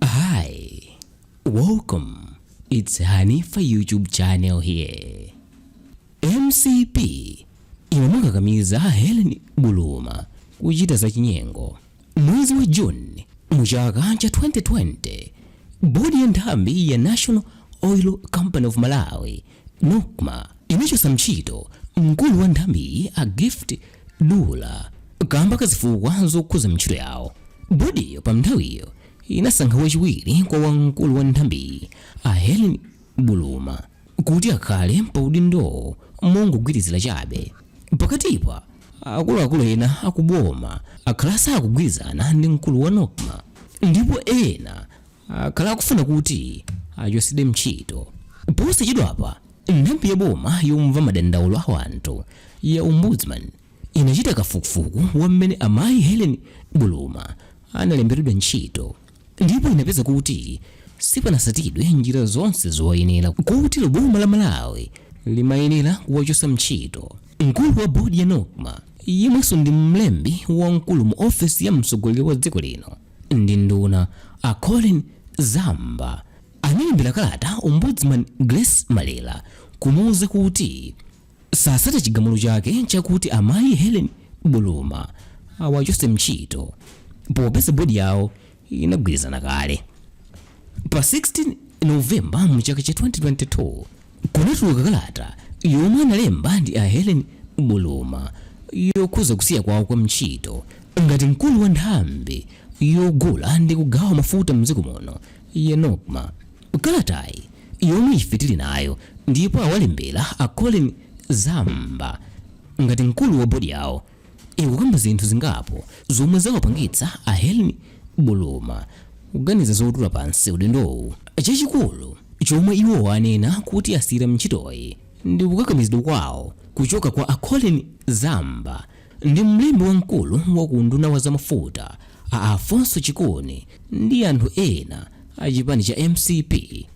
Hi, welcome. It's Hanifa YouTube channel here. MCP imamukakamiza Helen Buluma kuchita za chinyengo. Mwezi wa Juni mu chaka cha 2020, bodi ya nthambi ya National Oil Company of Malawi Nocma inachotsa ntchito mkulu wa nthambiyi a Gift Dulla kamba ka zifukwa zokhuza ntchito yawo. Bodiyo panthawiyo inasankha wachiwiri kwa wa mkulu wa nthambiyi a Hellen Buluma kuti akhale pa udindowo mongogwirizira chabe. Pakatipa, akuluakulu ena aku boma akhala asakugwirizana ndi mkulu wa Nocma ndipo ena akhala akufuna kuti achotsedwe ntchito posachedwapa nthambi ya boma yomva madandaulo a wanthu ya ombudsman inachita kafukufuku wa mmene amayi helen buluma analemberedwa ntchito ndipo inapeza kuti sipanasatidwe njira zonse zoyenera kotero boma la malawi limayenera kuwachotsa ntchito mkulu wa bodi ya nocma yemwenso ndi mlembi wamkulu mu ofesi ya mtsogoleri wa dziko lino ndi nduna a Colleen Zamba analembera kalata Ombudsman Grace Malera kumuuza kuti sasata chigamulo chake chakuti amayi Hellen Buluma awachose ntchito popeza bodi yawo inagwirizana kale pa 16 novemba mu chaka cha 2022 kunatuluka kalata yomwe analemba ndi a Hellen Buluma yokhuza kusiya kwawo kwa ntchito ngati mkulu wa nthambi yogula ndi kugawa mafuta mdziko muno ya Nocma. Kalatayi yomwe ife tili nayo ndipo awalembera a Colleen Zamba ngati mkulu wa bodi yawo ikukamba zinthu zingapo zomwe zawapangitsa a Hellen Buluma kuganiza zotula pansi udindowu. Chachikulu chomwe iwo anena kuti asiyira ntchitoyi ndi kukakamizidwa kwawo kuchoka kwa a Colleen Zamba ndi mlembi wamkulu wa ku unduna wa zamafuta a Alfonso Chikuni ndi anthu ena a chipani cha mcp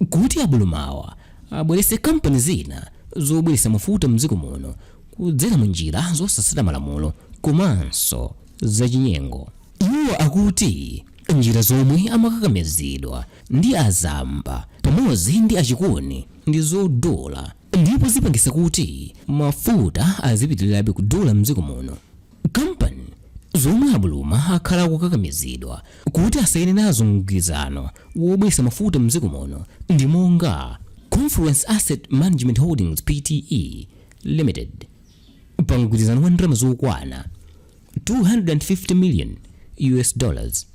kuti a Bulumawa abweretse kampani zina zobweretsa mafuta mdziko muno kudzera mu njira zosatsata malamulo komanso zachinyengo. Iwo akuti njira zomwe amakakamizidwa ndi a Zamba pamodzi ndi a Chikuni ndi zodula ndipo zipangisa kuti mafuta azipitirirabe kudula mdziko muno. Kampani zomwe a Buluma akhala akukakamizidwa kuti asayine nazo mgwirizano wobweretsa mafuta mdziko muno ndi monga Confluence Asset Management Holdings Pte. Limited pa mgwirizano wa ndalama zokwana 250 million US dollars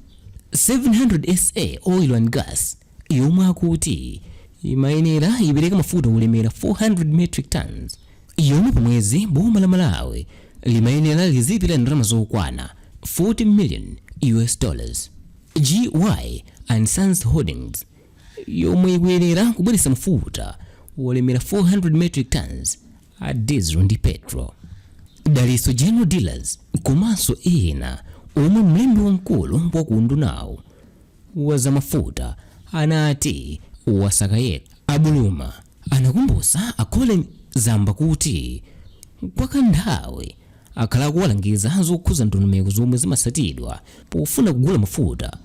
700 SA oil and gas yomwe akuti imayenera ipereka mafuta olemera 400 metric tons yomwe pa mwezi boma la Malawi limayenera lizipira ndalama zokwana 40 million US dollars. GY and Sons Holdings yomwe ikuyenera kubweretsa mafuta olemera 400 metric tonnes a diesel ndi petrol. Dalitso General Dealers komanso ena omwe mlembi wamkulu wa ku undunawu wa zamafuta anati wasaka yekha. A Buluma anakumbutsa a Colleen Zamba kuti kwa kanthawi akhala akuwalangiza zokhudza ndondomeko zomwe zimatsatidwa pofuna kugula mafuta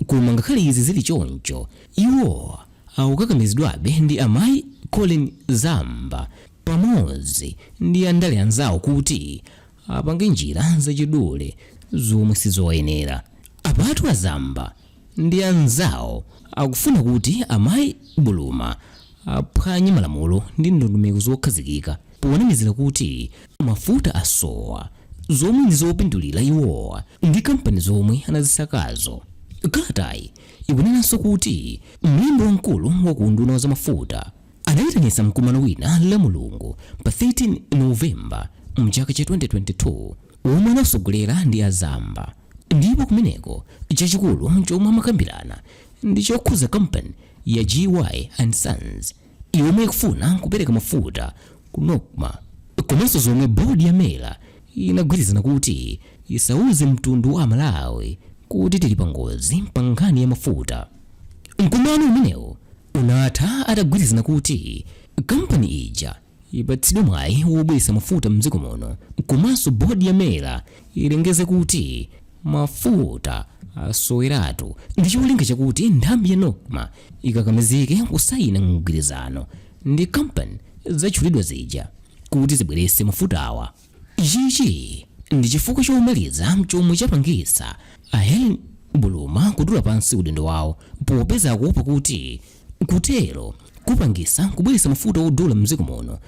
Koma ngakhale izi zili choncho, iwo akukakamizidwabe ndi amayi Colleen Zamba pamodzi ndi andale anzawo kuti apange njira zachidule zomwe sizoyenera. Apatu a Zamba ndi anzawo akufuna kuti amayi Buluma aphwanye malamulo ndi ndondomeko zokhazikika ponamizira kuti mafuta asowa zomwe ndi zopindulira iwowa ndi kampani zomwe anazisakazo kalatayi ikunenanso kuti mlembi wamkulu wa ku unduna wa zamafuta anayitanitsa mkumano wina la mulungu pa 13 novemba mchaka cha 2022 womwe anatsogolera ndi a Zamba ndipo kumeneko chachikulu chomwe amakambirana ndi chokhudza kampani ya gy and sons yomwe ikufuna kupereka mafuta ku Nocma komanso zomwe board ya Mera inagwirizana kuti isauze mtundu wa amalawi kuti tili pangozi pa nkhani ya mafuta. Mkumano umenewu unatha atagwirizana kuti kampani ija ipatsidwe mwayi wobweretsa mafuta mdziko muno komanso board ya Mera ilengeze kuti mafuta asoweratu ndi cholinga chakuti nthambi ya nocma ikakamizike kusayina mgwirizano ndi kampani zatchulidwa zija kuti zibweretse mafutawa ichi ndi chifukwa chomaliza chomwe chapangitsa a helen buluma kutula pansi udindo wawo popeza akuopa kuti kutero kupangitsa kubweretsa mafuta odula mdziko muno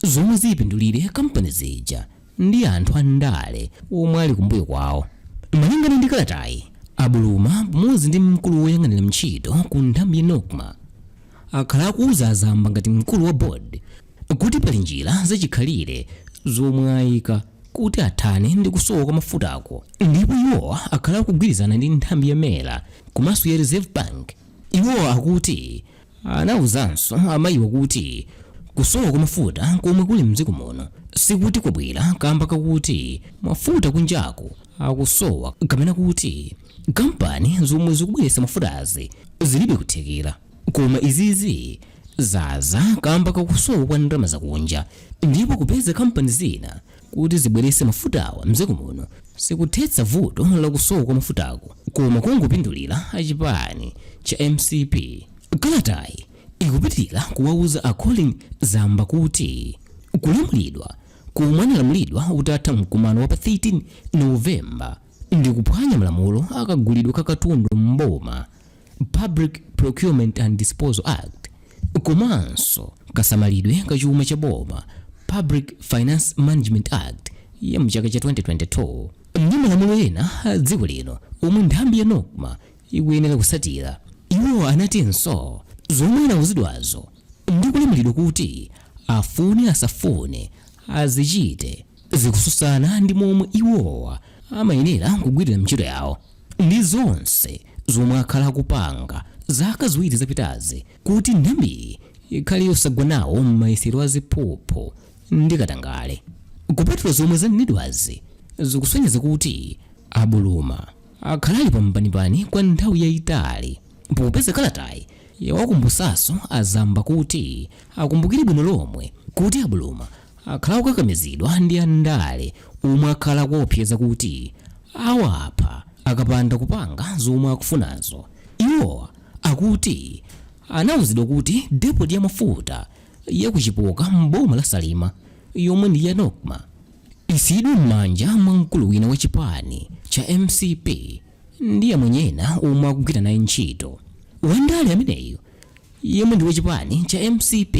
zomwe zipindulire kampani zija ndi anthu a ndale omwe ali kumbuyo kwawo. Malingana ndi kalatayi, a Buluma pamodzi ndi mkulu woyang'anira ntchito ku nthambi ya Nocma akhala akuuza a Zamba ngati mkulu wa board kuti pali njira zachikhalire zomwe ayika kuti athane ndi kusowa kwa mafutako ndipo iwo akhala akugwirizana ndi nthambi ya Mera komanso ya reserve bank iwo akuti Anauzanso amayiwa kuti kusowa kwa mafuta komwe kuli mdziko muno sikuti kwabwera kamba kakuti mafuta kunjaku akusowa kapena kuti kampani zomwe zikubweretsa mafutazi zilibe kuthekera koma izizi zaza kamba kakusowa kwa ndalama zakunja ndipo kupeza kampani zina kuti zibweretse mafutawa m'dziko muno sikuthetsa vuto la kusowa kwa mafutako, koma kungopindulira a chipani cha mcp. Kalatayi ikupitirira kuwauza a Colleen Zamba kuti kulamulidwa komwe analamulidwa utatha mkumano wa pa 13 November ndi kuphwanya malamulo a kagulidwe ka katundu m'boma Public Procurement and Disposal Act, komanso kasamalidwe ka chuma cha boma, Public Finance Management Act ya mchaka cha 2022, ndi malamulo ena a dziko lino omwe nthambi ya NOCMA ikuyenera kusatira. Iwo anatinso zomwe anauzidwazo ndi kulamulidwa kuti afune asafune azichite zikususana ndi momwe iwowa amayenera kugwirira ntchito yawo. ndi zonse zomwe akhala akupanga zaka ziwiri zapitazi kuti nthambiyi ikhale yosagwa nawo m'mayesero a ziphuphu ndi katangale. Kupatula zomwe zanenedwazi, zikusonyeza kuti a Buluma akhala ali pampanipani kwa nthawi yayitali popeza kalatayi yawakumbutsanso a Zamba kuti akumbukire bwino lomwe kuti a Buluma akhala akukakamizidwa ndi andale omwe akhala akuwaopseza kuti awapha akapanda kupanga zomwe akufunazo. Iwowa akuti anauzidwa kuti depot ya mafuta ya ku Chipoka m'boma la Salima yomwe ndi ya Nocma isiyidwe m'manja mwa mkulu wina wa chipani cha mcp ndi amwenye ena omwe akugwira naye ntchito. Wandale ameneyo yemwe ndi wa chipani cha mcp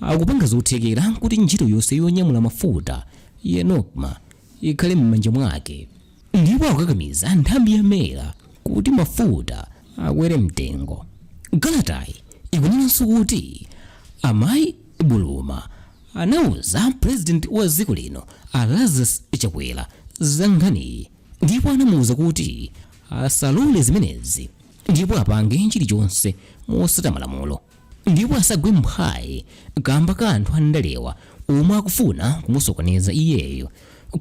Akupanga zothekera kuti ntchito yonse yonyamula mafuta ya Nocma ikhale m'manja mwake ndipo akukakamiza nthambi ya Mera kuti mafuta akwere mtengo. Kalatayi ikunenanso kuti a Mayi Buluma anauza President wa dziko lino a Lazarus Chakwera za nkhaniyi ndipo anamuuza kuti asalole zimenezi ndipo apange chilichonse motsata malamulo. ndipo asagwe mphwayi kamba ka anthu andalewa omwe akufuna kumusokoneza iyeyo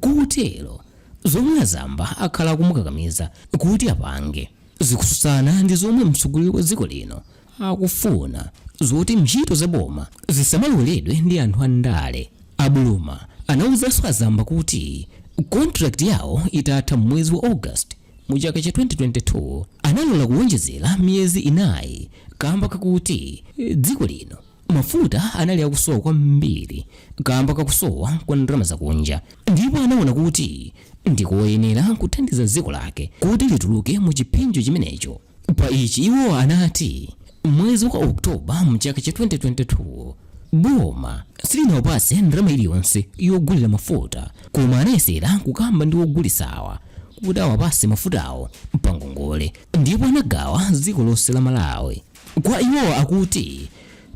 kotero zomwe a Zamba akhala akumukakamiza kuti apange zikususana ndi zomwe mtsogoleri wa dziko lino akufuna zoti ntchito za boma zisamalowereredwe ndi anthu andale a Buluma anawuzanso a Zamba kuti contract yawo itatha mwezi wa august mu chaka cha 2022 analola kuwonjezera miyezi inayi kamba kakuti eh, dziko lino mafuta anali akusowa kwambiri kamba kakusowa kwa ndalama zakunja ndipo anaona kuti ndikoyenera kuthandiza dziko lake kuti lituluke mu chiphinjo chimenecho Pa ichi iwo anati mwezi wa Oktoba mchaka cha 2022 boma silinawapase ndalama iliyonse yogulira mafuta koma anayesera kukamba ndi ogulisawa kuti awapase mafutawo pa ngongole ndipo anagawa dziko lonse la Malawi. Kwa iwo akuti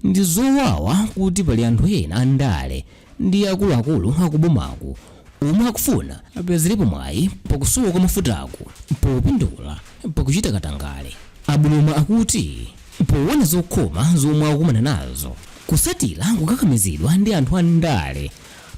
ndi zowawa kuti pali anthu ena andale ndi akuluakulu akubomaku omwe akufuna apezerepo mwayi pakusowa kwa mafutaku popindula pakuchita katangale a Buluma akuti powona zokhoma zomwe akukumana nazo kusatira kukakamizidwa ndi anthu andale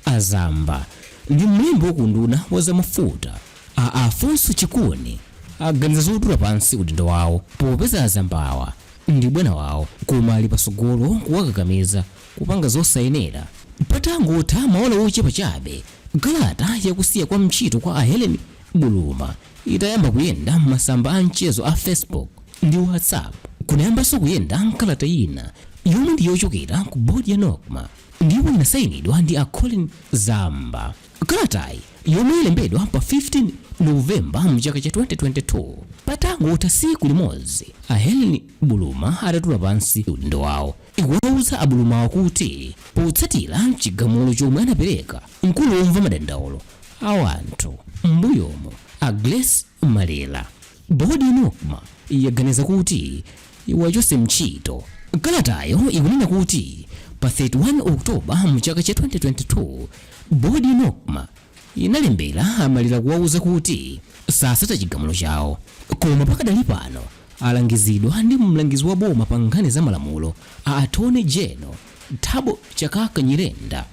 a Zamba ndi mlembi wa ku unduna wa zamafuta a Alfonso Chikuni aganiza zotula pansi udindo wawo popeza a Zambawa ndi bwana wawo koma ali pasogolo kuwakakamiza kupanga zosayenera. Patangotha maola ochepa chabe kalata ya kusiya kwa ntchito kwa a Helen Buluma itayamba kuyenda m'masamba a mchezo a Facebook ndi WhatsApp, kunayambanso kuyenda kalata ina yomwe ndi yochokera ku bodi ya Nocma ndipo inasayinidwa ndi a Colleen Zamba. Kalatayi yomwe yalembedwa pa 15 November mchaka cha 2022, patangotha tsiku limodzi a Helen Buluma atatula pansi udindo wawo, ikuwauza a Bulumawo kuti potsatira chigamulo chomwe anapereka mkulu womva madandaulo a anthu m'mbuyomo a Grace Malera bodi ya Nocma yaganiza kuti iwachose mchito kalatayo ikunena kuti pa 31 oktoba mu chaka cha 2022 bodi ya Nocma inalembera a Malera kuwauza kuti sasata chigamulo chawo koma pakadali pano Alangizidwa ndi mlangizi wa boma pa nkhani za malamulo a Attorney General Thabo Chakaka Nyirenda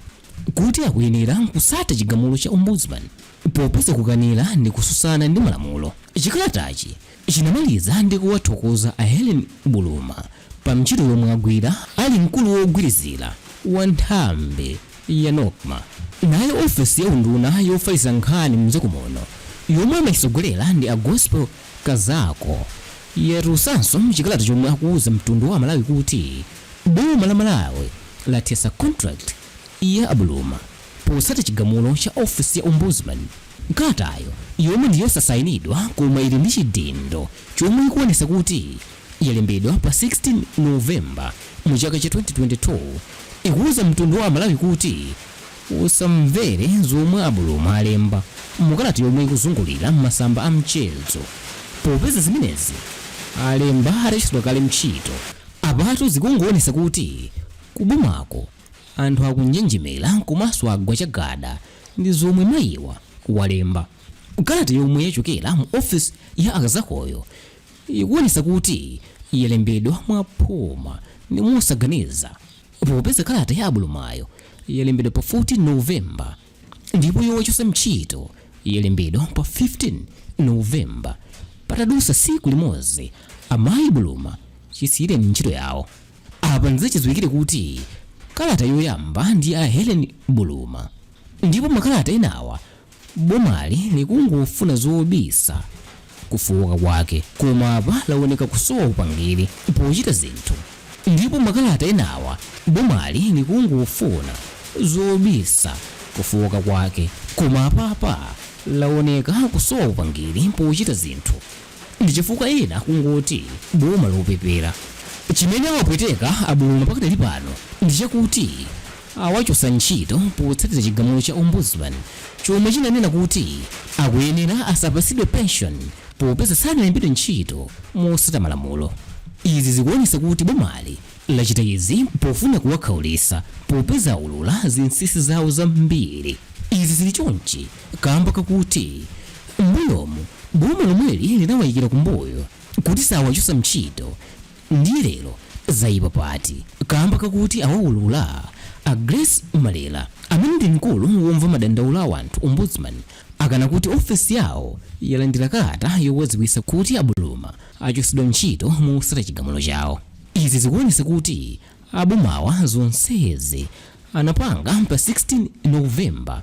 kuti akuyenera kusata chigamulo cha Ombudsman popeza kukanira ndi kususana ndi malamulo. Chikalatachi chinamaliza ndi kuwathokoza a Helen Buluma pa mchito yomwe agwira ali mkulu wogwirizira wa nthambi ya Nocma. Nayo ofesi ya unduna yofalitsa nkhani mdziko muno yomwe amaitsogolera ndi a Gospel Kazako yatulusanso chikalata chomwe akuuza mtundu wa amalawi kuti boma la Malawi lathesa contract ya a Buluma potsata chigamulo cha office ya ombudsman. Kalatayo yomwe ndi yosasainidwa koma ili ndi chidindo chomwe ikuonesa kuti yalembedwa pa 16 November mu chaka cha 2022 ikuuza mtundu wa amalawi kuti, Usamvere zomwe a Buluma alemba mu kalata yomwe ikuzungulira m'masamba a mchezo popeza zimenezi alemba atachotsedwa kale ntchito. Apatu zikungoonesa kuti ku bomako anthu akunjenjemera komanso agwa chagada ndi zomwe mayiwa walemba. Kalata yomwe yachokera mu ofisi ya a Kazakoyo ikuonesa kuti yalembedwa mwa phuma ndi mosaganiza. Popeza kalata ya a Bulumayo yalembedwa pa 14 November ndipo yowachotsa ntchito yalembedwa pa 15 November, patadutsa tsiku limodzi amayi Buluma chisiyireni ntchito yawo. Apa ndizachidziwikire kuti kalata yoyamba ndi ya Hellen Buluma ndipo makalata enawa Bomali likungofuna zobisa kufooka kwake koma apa lawoneka kusowa upangiri pochita zinthu ndipo makalata enawa bomali likungofuna zobisa kufooka kwake koma apapa lawoneka kusowa upangili pochita zinthu. ndichifukwa ena akungoti boma lopepera. Chimene awapweteka a Buluma pakadali pano ndichakuti awachotsa ntchito potsatira chigamulo cha Ombudsman chomwe chinanena kuti akuyenera asapatsidwe pension popeza sanalembedwe ntchito motsata malamulo. Izi zikuonesa kuti bomali lachita izi pofuna kuwakhaulisa popeza aulula zinsinsi zawo zambiri. Izi zili chonchi, kaamba kakuti m'mbuyomu boma lomweli linawaikira kumbuyo kuti sawachotsa ntchito ndiye lero zaipa pati kaamba kakuti awaulula. A Grace Malera amene ndi mkulu womva madandaulo a wanthu, Ombudsman, akana kuti ofesi yawo yalandira kalata yowadziwitsa kuti a Buluma achotsedwa ntchito motsata chigamulo chawo. Izi zikuonetsa kuti abomawa zonsezi anapanga pa 16 November.